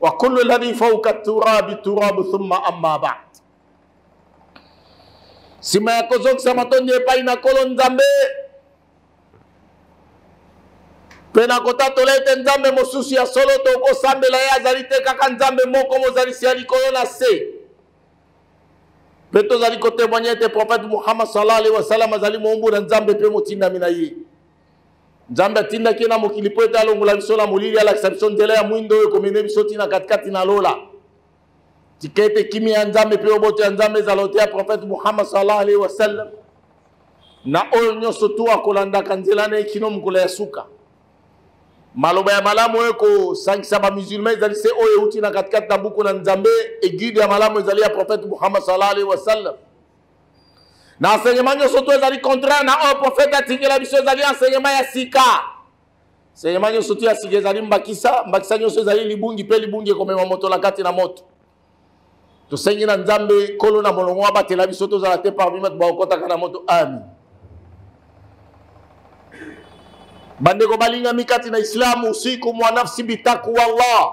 wa kullu alladhi fawqa turabi turabu thumma amma ba'd nsima ya kozongisa matondi epai na nkolo nzambe mpe na kotatola ete nzambe mosusu ya solo tokosambela ye azali te kaka nzambe moko mozalisi ya likolo na se mpe tozali kotemoigne ete profete muhammad sallallahu alaihi wasallam azali moumbu na nzambe mpe motindami na ye nzambe atindaki ye na mokili mpo ete alongola biso na molili alakisa biso nzela ya mwindo oyo ekomene biso ntina katikati na lola tika ete kimia ya nzambe mpe oboto ya nzambe ezala ote ya profete muhammad sallallahu alaihi wasallam na oyo nyonso tu akolandaka nzela na ye kino mokolo ya suka maloba ya malamu oyo ekosangisa bamusulma ezali se oyo euti na katikati na buku na nzambe eguide ya malamu ezali ya profete muhammad sallallahu alaihi wasallam na enseignement nyonso to ezali contraire na oyo profete atikela biso ezali enseignement ya sika enseignement nyonso to ya sika ezali mbakisa mbakisa nyonso ezali libungi mpe libungi ekomema moto na kati na moto tosengi na nzambe nkolo na molongo abatela biso tozala te parmi bato bakokɔtaka na moto ami bandeko balingami kati na islamu usiku mwanafsi bitaku wallah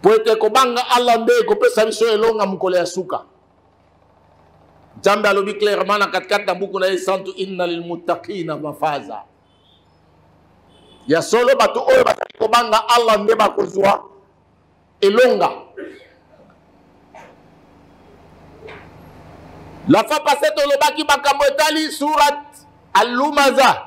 mpo ete kobanga allah nde ekopesa biso elonga mokolo ya suka nzambe alobi clairement na katikati na buku na ye santu inna lilmutakina mafaza ya solo bato oyo bazali kobanga allah nde bakozwa elonga la fois passe tolobaki makambo etali surat alumaza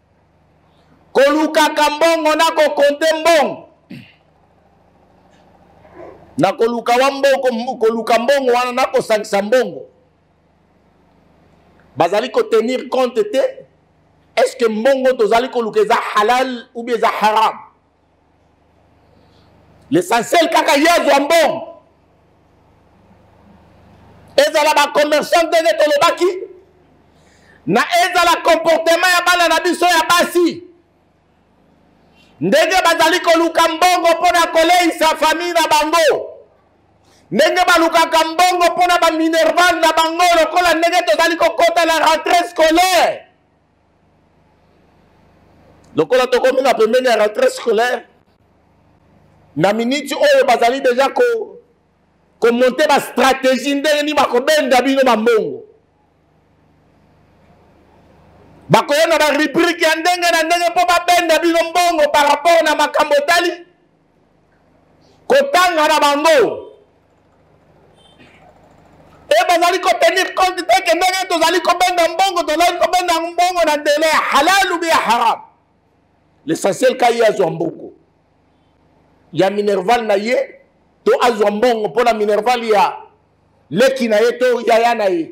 kolukaka mbongo na kokonte mbongo na koluka wa mbongo koluka mbongo wana na kosangisa mbongo bazali kotenir compte te est ce que mbongo tozali koluka eza halal ou bien eza haram l'essentiel kaka ye azwa mbongo ezala bacommerçant ndenge tolobaki na ezala comportement ya bana na biso ya basi ndenge bazali koluka mbongo mpo na koleisa famille na bango ndenge balukaka mbongo mpo na baminerval na bango lokola ndenge tozali kokota na rentrée scolaire lokola tokomi na pembeni ya rentrée scolaire na miniti oyo bazali deja ko komonte bastratégie ndenge nini bakobenda bino bambongo bakoya na barubrike ya ndenge na ndenge mpo babenda bino mbongo par rapport na makambo etali kotanga na bango e bazali kotenir compte te ke ndenge tozali kobenda mbongo tozali kobenda mbongo na ndele ya halal ou ya haram l'essentiel ka ye azwa mbongo ya minerval na ye to azwa mbongo mpo na minerval ya leki na ye to yaya na ye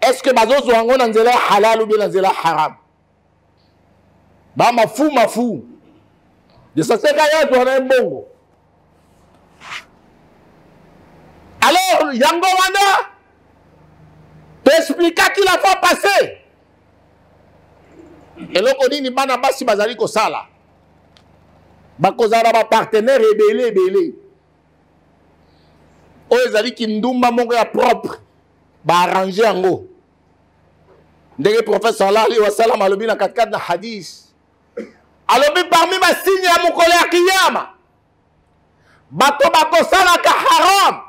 est ce que bazozwa yango na nzela ya halal ou bien na nzela ya haram bamafu mafu desaseka ye azwa na ye mbongo alors yango wana toexplikaki la fois passé eloko nini bana basi bazali kosala bakozala na bapartenaire ebele ebele oyo ezali kindumba moko ya propre baarrange yango ndenge prophète sallallahu alaihi wasallam alobi na katikati na hadis alobi parmi basigne ya mokolo ya kiyama bato bakosalaka haram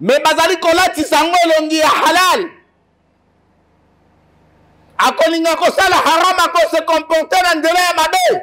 me bazali kolatisa yango elongi ya halal akolinga kosala haram akosekomporte na nzela ya mabe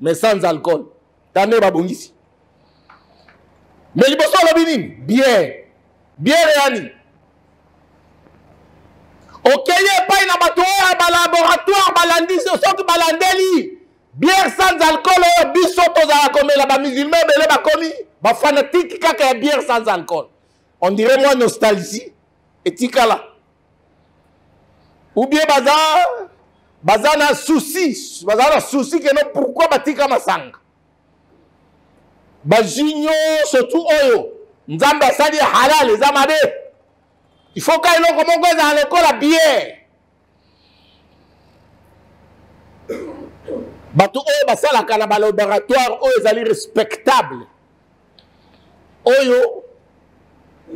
mais sans alcool tande babongisi mais liboso alobi nini biere biere ya nini okei epai na bato oyo ya balaboratoire balandi soki balandeli biere sans alcool oyo biso tozala komela bamusulma ebele bakomi bafanatike kaka ya biere sans alcool on dirait mwa nostalgie etikala ou bien baza baza na souci baza na souci keno pourquoi batika masanga bazwi nyonso tu oyo nzambe asali ya halal eza mabe ifoka eloko moko ezala lokola biere bato oyo basalaka na balaboratoire oyo ezali respectable oyo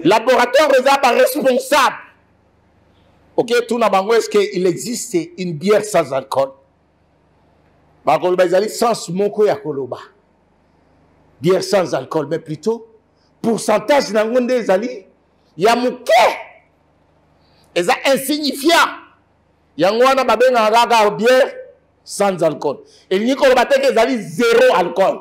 laboratoire eza ba responsable oke okay, tuna bango est ce que il existe une bière sans alcool bakoloba ezali sens moko ya koloba bière sans alcool mais plutôt pourcentage na yango nde ezali ya moke eza insignifiant yango wana babengaka kaka bière sans alcool elingi koloba te ke ezali zero alcool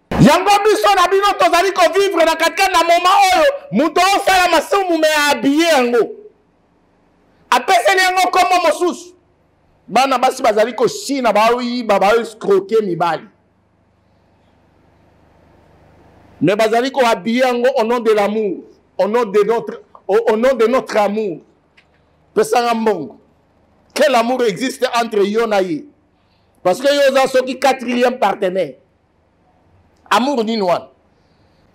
yango biso na bino tozali kovivre na katikati na moma oyo moto osala masumu me abiye yango apeseli yango nkombo mosusu bana basi bazali koshina baoyiba baoeskroke mibali me bazali koabiye yango au nom de l'amour au nom de notre, au, au nom de notre amour pesanga mbongo quel amour existe entre yo na ye parce que yo oza soki quatrième partenaire amour nini wana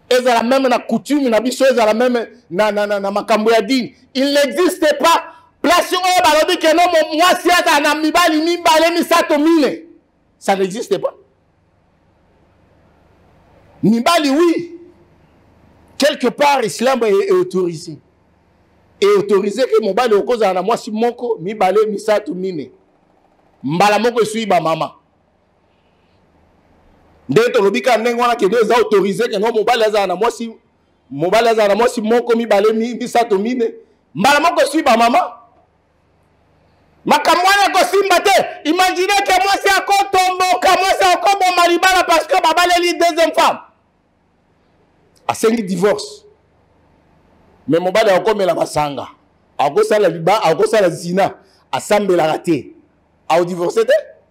ezala meme na coutume na biso ezala meme na, na, na, na makambo ya dini il n'existe pas place oyo balobi keno mwasi azala na mibali mibale misato mine ça n'existe pas mibali oui quelque part islam est autorisé e autorisé ke mobali okozala na mwasi moko mibale misato mine mbala moko esui bamama ndenge tolobi kaka ndenge wana kende eza autorise kende mobali azala na mwasi mobali azala na mwasi moko mibale misato mine mbala moko eswi bamama makambo wana ekosimba te imagine ke mwasi akotomboka mwasi akoboma libala parce que babaleli deuxième femme asengi divorce me mobali akokomela masanga akosala liba akosala zina asambelaka te aodivorce te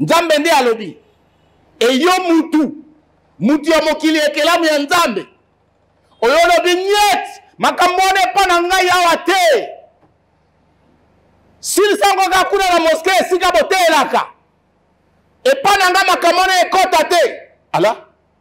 nzambe nde alobi eyo mutu mutu ya mokili ekelamu ya nzambe oyo olobi niet makambo wana epa na ngai awa te silisango kaka kuna na moske esika boteelaka epa na ngai makambo wana ekɔta te ala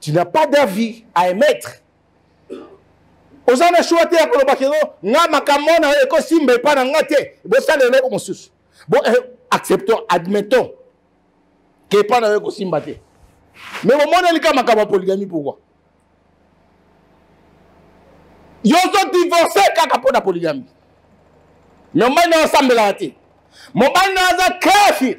tu n'as pas d'avis à émettre oza na shua te ya koloba keno nga makambo na oyo ekosimba epai na nga te bosala eloko mosusu bo eh, acceptons admettons ke epai na yo ekosimba te me bomoneli ka makambo ya poligami pourkui yo ozodivorce kaka mpo na poligami me mobali na yo asambelaka te mobali na yo aza kafir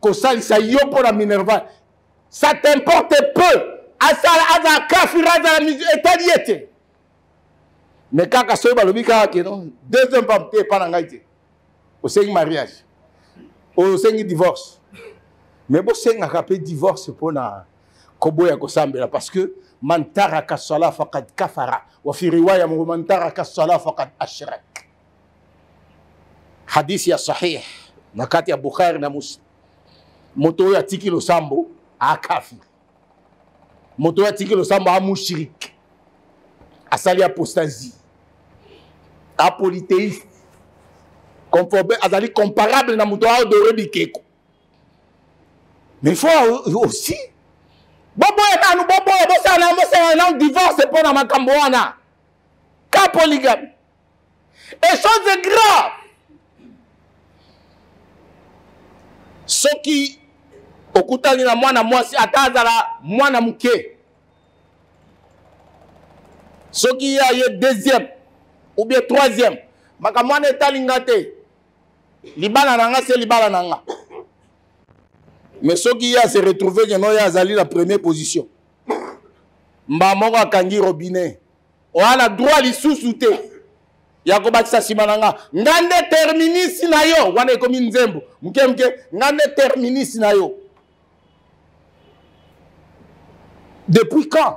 kosalisa yo mpo na minerval ça t'importe peu asala azala kafira azala etali ye te mais kaka soki balobi kaka keno deuxième femme te epa na ngai te osengi mariage oyo osengi divorce mais bosengaka mpe divorce mpo na koboya kosambela parce que man taraka sala fakad kafara wa fi riwaya moko man taraka sala fakad ashrak hadisi ya sahih na kati ya bukhari na muslim moto oyo atiki losambo akafiri moto oyo atiki losambo amushirike asali apostasie apoliteiste conforme azali comparable na moto aodore bikeko mais fo aussi boboya nanu boboya bosala nanu bosala nanu divorce mpo na makambo wana ka polygame et chose est grave soki okutani na mwana mwasi ata azala mwana moke soki ye aye deuxième ou bien troisième makambo wana etali nga te libala na nga se libala na nga mais soki ye ase retrouve keno ye azali na première position mbaa moko akangi robinet oa na droit lisusu te ya kobakisa nsima na nga nga nde terminisi na yo wana ekomi nzembo moke moke nga nde terminisi na yo depuis quand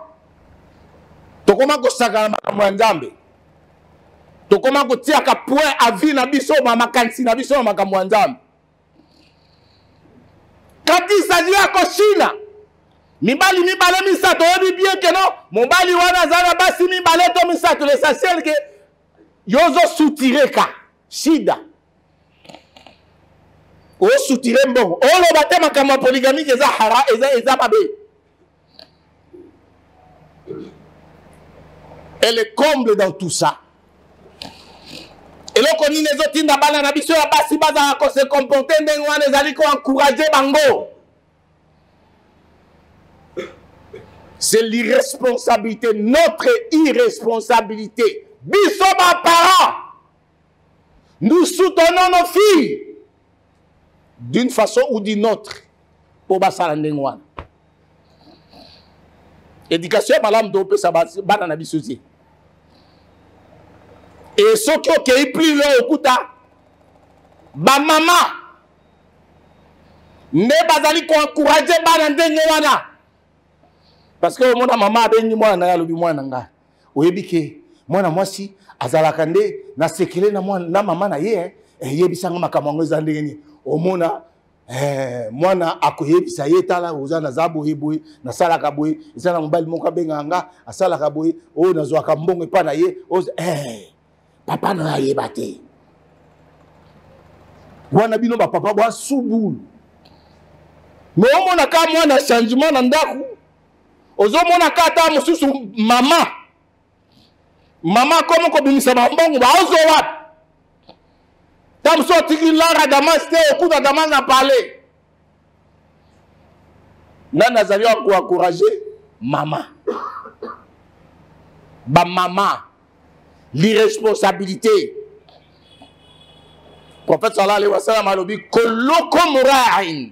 tokoma kosakana makambo ya nzambe tokoma kotiaka point avis na biso makanisi na biso na makambo ya nzambe katisa lia koshina mibali mibale misato oyebi bien keno mobali wana aza na basi mibale to misato l'essentiel ke yo ozosutire ka shida osutire mbongo oloba te makambo ya poligamike eza hara eza, eza mabe et le comble dans tout ça eloko nini ezotinda bana na biso ya basi bazala kose comporte ndenge wana ezali koencourage bango c'est l'irresponsabilité notre irresponsabilité biso baparent Nous soutenons nos filles d'une façon ou d'une autre mpo basala ndenge wana. Éducation ya malamu topesa bana na biso te. Et soki okei plus loin okuta bamama nde bazali koencourage bana ndenge wana parce que omona mama abengi mwana na ye alobi mwana na ngai oyebi ke mwana mwasi azalaka nde na sekele na, na mama na ye eh? eh, yebisa nga makambo yango eza ndenge nini omona eh, mwana akoyebisa ye tala oza naza boye boye nasalaka boye eza na mobali moko abengaka nga asalaka boye oyo nazwaka mbongo epa na ye eh, papa na yo ayeba te wana bino bapapa bwasubulu me omonaka mwana changement na ndako ozomona ka ata mosusu mama mama komi kobimisa bambongo baozo wapi ta mosusu otiki lara damas te okuta damas na pale ngai nazali akoencourage mama bamama l'irresponsabilité prophète sallallahu alayhi wa sallam alobi koloko morain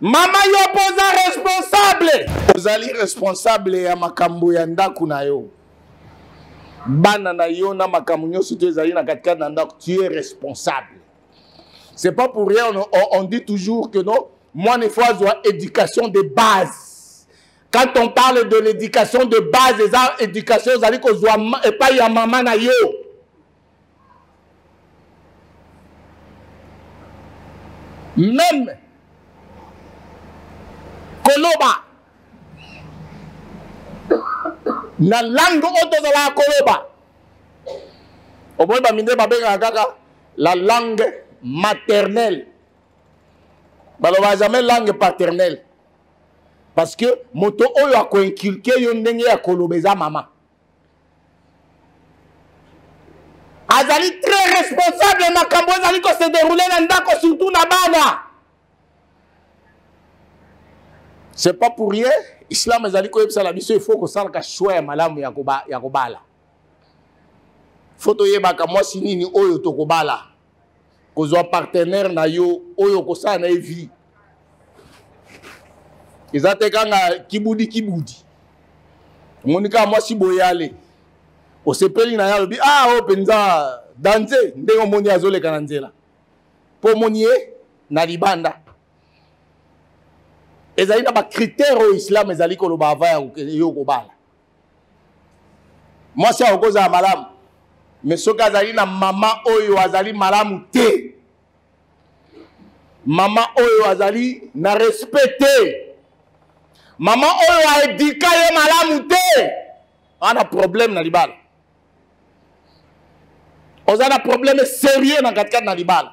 Mama yo poza responsable. Ozali responsable ya makambo ya ndako na yo. Bana na yo na makambo nyonso to ezali na katikati na ndako, tu es responsable. C'est pas pour rien on, on, on dit toujours que non, moi ne faut avoir éducation de base. Quand on parle de l'éducation de base, les éducation ozali kozwa epai ya mama na yo. meme koloba na langue oyo tozalaka koloba omoni baminde babengaka kaka la langue maternelle balobaka jamais langue paternelle parce que moto oyo akoinculke yo ndenge ya koloba eza mama azali très responsable ya makambo ezali kose deroule na ndako surtout na bana c'est pas pour rien islam ezali koyebisa na biso ifo kosalaka choix ya malamu ya kobala fo toyebaka mwasi nini oyo tokobala kozwa partenaire na yo oyo okosala na ye vie eza te kanga kibudi kibudi omoni kaka mwasi boyale osepeli na ye alobi a ah, oyo oh, mpenza danze ndenge omoni azoleka na nzela mpo omoni ye na libanda ezali na bakritere oyo islam ezali koloba ava yo kobala mwasi akoki kozala malamu me soki azali na mama oyo azali malamu te mama oyo azali na respect te mama oyo aedika ye malamu te ana problème na libala oza na problème sérieux na katikati na libala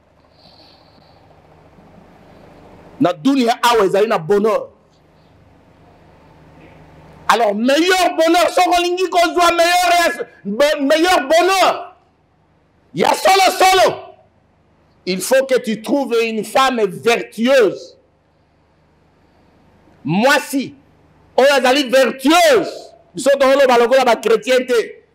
na dunia awa ezali na bonheur alors meilleur bonheur soki olingi kozwa meilleur, meilleur bonheur ya solo solo il faut que tu trouves une femme vertueuse mwasi oyo azali vertueuse biso tokoloba lokola bachrétien te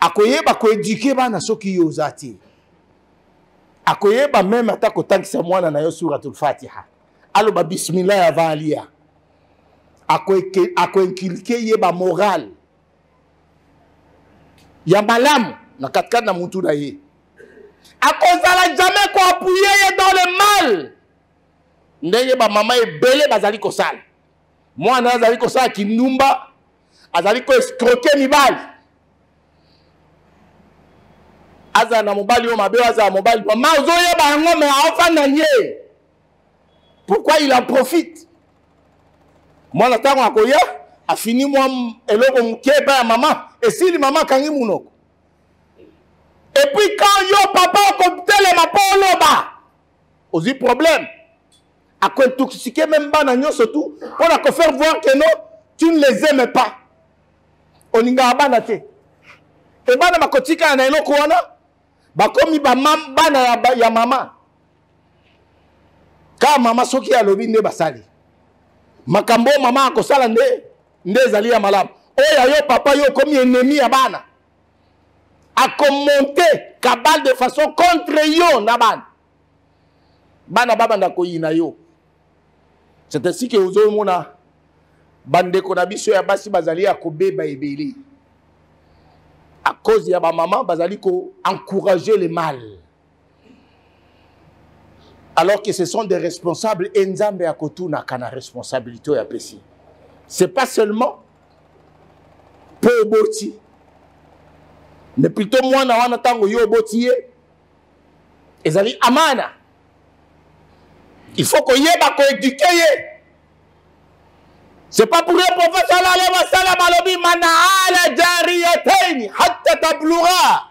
akoyeba koeduke bana soki yo oza te akoyeba meme ata kotangisa mwana na yo suratul fatiha aloba bismillah ya valia akoinkilike ye bamorale ya malamu na katikati na mutu na ye akozala jamais koapuye ye dans le mal ndenge bamama ebele bazali kosala mwana azali kosala kindumba azali ko escroke mibali azala na mobali oyo mabe azala mobali mama ozoyeba yango me aofanda ye pourquoi il en profite mwana ntango akoya afini mwa eloko moke epai ya mama esili mama akangi monoko epuis quand yo papa okotelema mpo oloba ozwi problème akointoxiquer même bana nyonso tout mpo na kofaire voir que non tu ne les aime pas olingaka bana te e bana bakotikala na eloko wana bakomi bana ya, ba, ya mama kaka mama soki alobi nde basali makambo oyo mama akosala nde nde ezali ya malamu oyo ya yo papa yo okomi enemi ya bana akomonte kabale de façon contre yo na bana bana babanda koyina yo c'est ainsi ke ozomona bandeko na biso ya basi bazali ya kobeba ebele à cause ya bamama bazali koencourage le mal alors que ce sont des responsables et nzambe ya kotunaka na responsabilité oyo apesi c'est pas seulement mpo oboti mais plutôt mwana wana ntango yo oboti ye ezali amana il faut koyeba koeduke ye c'est pas pour un prophète sallallahu alayhi wa sallam alobi man ala jariyataini hatta tablura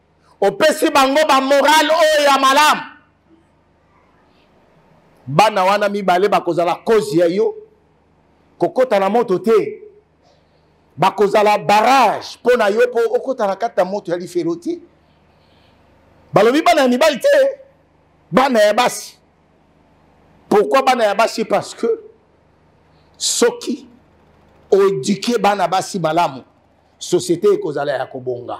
opesi bango bamorale oyo ya malamu bana wana mibale bakozala kozi ya yo kokota na moto te bakozala barrage mpo na yo mpo okota na kati ya moto ya lifelo te balobi bana ya mibali te bana ya basi pourkui bana ya basi parce que soki oeduke bana basi malamu société ekozala ya kobonga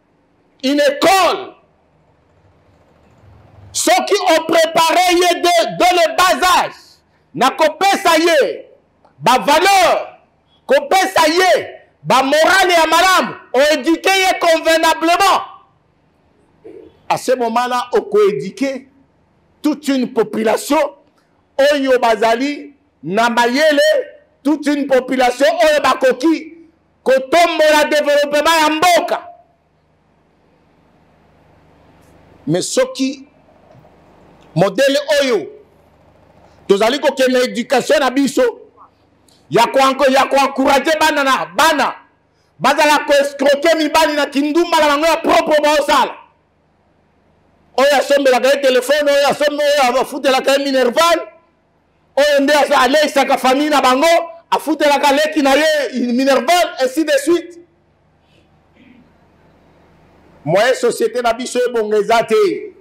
une école soki oprépare ye de, de le bas âge na kopesa ye bavaleur kopesa ye bamorale ya malamu oéduke ye convenablement à ce moment là okoéduke toute une population oyo bazali na mayele toute une population oyo bakoki kotombola developema ya mboka me soki modele oyo tozali kokende edukatio na biso ya koencourage bana na bana bazala koescroke mibali na kindumba na bango ya propre baosala oyo asombelaka ye telefone oyo afutelaka ye minerval oyo nde aleisaka famille na bango afutelaka leki na ye minerval ainsi de suite moyen société na biso ebonga eza te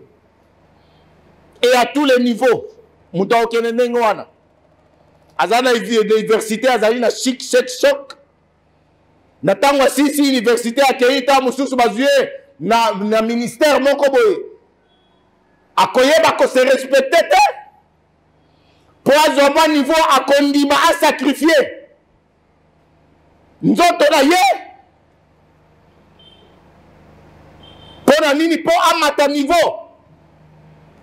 e à tous les niveaux moto akokende ndenge wana aza na université azali na chic chek choc na ntango asisi université akei ntango mosusu bazwi ye na, na ministère moko boye akoyeba ko se respecter te mpo azwa mwa niveau akondima asakrifie nzoto na ye mpo na nini mpo amata niveau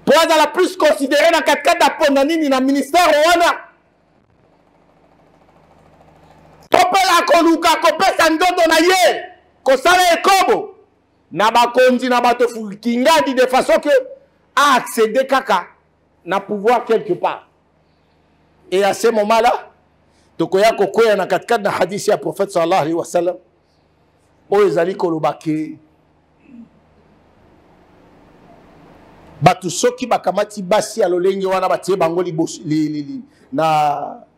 mpo azala plus considere na katikati aponda nini na ministère wana to mpe akoluka kopesa nzoto na ye kosala ekobo na bakonzi na bato kingadi de façon que a accéder kaka na pouvoir quelque part et à ce moment là tokoya kokwea na katikati na hadisi ya prophète sallallahu alaihi wasallam oyo ezali koloba ke bato soki bakamati basi ya lolenge wana batie bango liboso li, li, li, na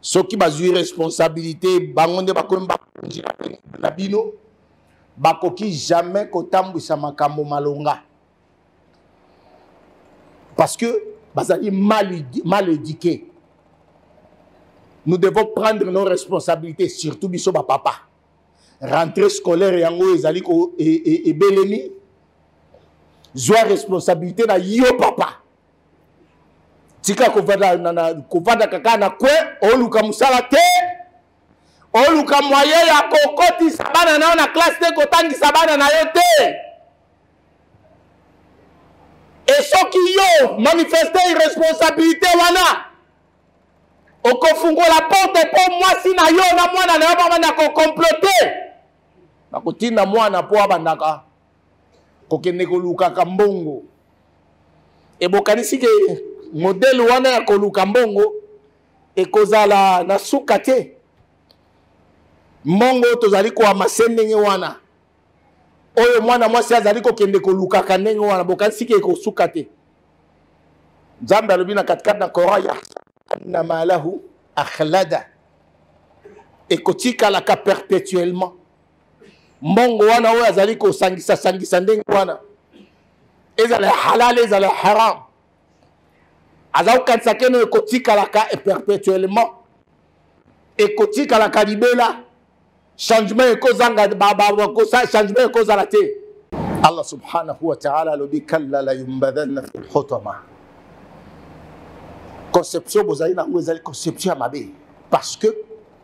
soki bazwi responsabilité bango nde bakomi bakonzi na bino bakoki jamais kotambwisa makambo malonga parce que bazali mal, mal éduqué nous devons prendre nos responsabilités surtout biso bapapa rentrée scolaire yango ezali ko ebelemi e, e, zwa responsabilité na yo papa tika kovanda kaka na kwe oluka mosala te oluka moye ya kokotisa bana na yo na klase te kotangisa bana na yo te e soki yo manifeste irresponsabilité wana okofungola porte mpo mwasi na yo na mwana na yo bamanda kokomplote bakotinda mwana mpo abandaka kokende kolukaka mbongo ebokanisi ke modele wana ya koluka mbongo ekozala na suka te mbongo tozali koamase ndenge wana oyo mwana mwasi azali kokende kolukaka ndenge wana bokanisi ke ekosuka te nzambe alobi na katikati na koran ya anna malahu akhlada ekotikalaka perpetuellement mbongo wana oyo azali kosangisa sangisa ndenge wana ezala halal ezala haram aza kokanisa keno ekotikalaka perpetuellement ekotikalaka libela changement ekozanga changement ekozala te allah subhanahu wa taala alobi kalla la yumbadanna fi lhotama conception bozali na yango ezali conception ya mabe parce que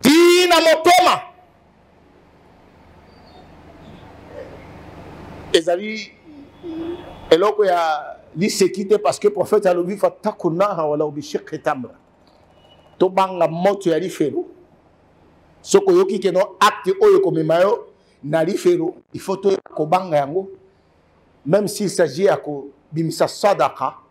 tii na motema ezali eloko ya liseki te parce que prophète alobi fataku naha wala obishekhe tamra tobanga moto ya lifelo soki oyoki keno acte oyo ekomema yo na lifelo il faut toyeba kobanga yango même s'il s'agit ya kobimisa sadaka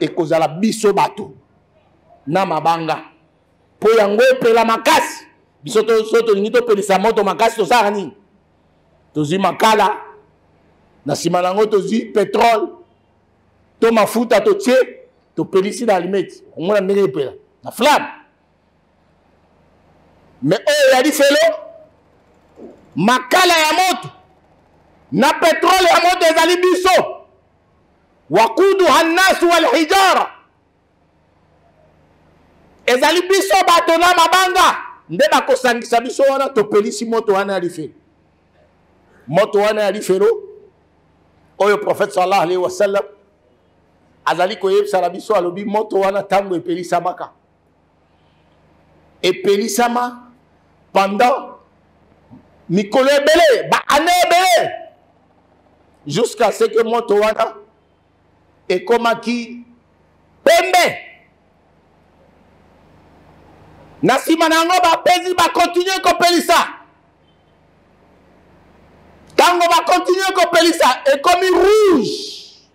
ekozala biso bato na mabanga mpo yango epela makasi biso so tolingi topelisa moto makasi tosalaka nini tozwi makala na nsima na yango tozwi petrole to mafuta totie topelisi na alimeti omona ndenge epela na flamme me oyo ya lifelo makala ya moto na petrole ya moto ezali biso wakuduha nnasu walhijara ezali biso bato na mabanga nde bakosangisa biso wana topelisi moto wana ya lifelo moto wana ya lifelo oyo prophète sallallahu alaihi wasallam azali koyebisa na biso alobi moto wana ntango epelisamaka epelisama pendant mikolo ebele baane ebele jusqu'à ce que moto wana ekomaki pembe na nsima na yango bapesi bakontinue kopelisa ntango bakontinue kopelisa ekomi rouge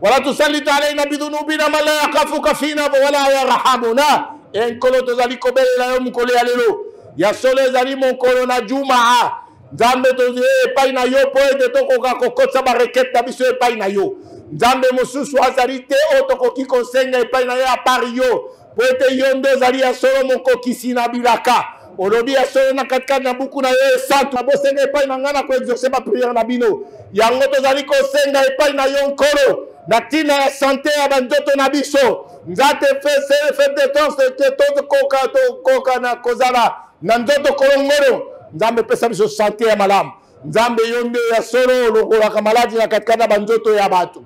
wala tusallit alaina bidunubina man la yakafuka fina wala yarhamuna e nkolo tozali kobelela yo mokolo ya lelo ya solo ezali mokolo na jumaa nzambe tozwi epai na yo mpo ete tokoka kokotisa barekete na biso epai na yo nzambe mosusu azali te oyo tokoki kosenga epai na ye apart yo Mpo ete yo nde ozali ya solo mokokisi na bilaka. Olobi ya solo na katikati na buku na yo esantu. Nabosenga epai na ngai na koexauce bapriere na bino. Yango tozali kosenga epai na yo Nkolo, na ntina ya sante ya banzoto na biso. Nzate fete tokoka tokoka na kozala na nzoto kolongolo. Nzambe pesa biso sante ya malamu. Nzambe yo nde ya solo olongolaka maladi na katikati na banzoto ya bato.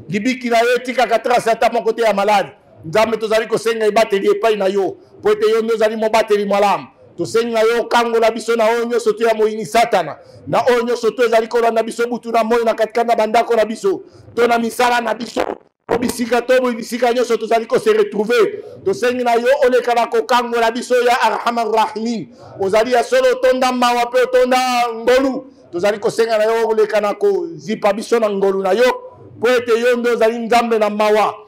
Libiki na yo etikaka trase ata moko te ya maladi. nzambe tozali kosenga ebateli epai na yo mpo ete yo nde ozali mobateli malamu tosengi na yo okangola biso na oyo nyonso to ya moyini satana na oyo nyonso to ezali kolanda biso butu na moi na katikati na bandako na biso to na misala na biso to bisika to bisika nyonso tozali kose retrouve tosengi na yo oleka na kokangola biso ya arhama rahimin ozali ya solo otonda mawa mpe otonda ngolu tozali kosenga na yo oleka na kozipa biso na ngolu na yo mpo ete yo nde ozali nzambe na mawa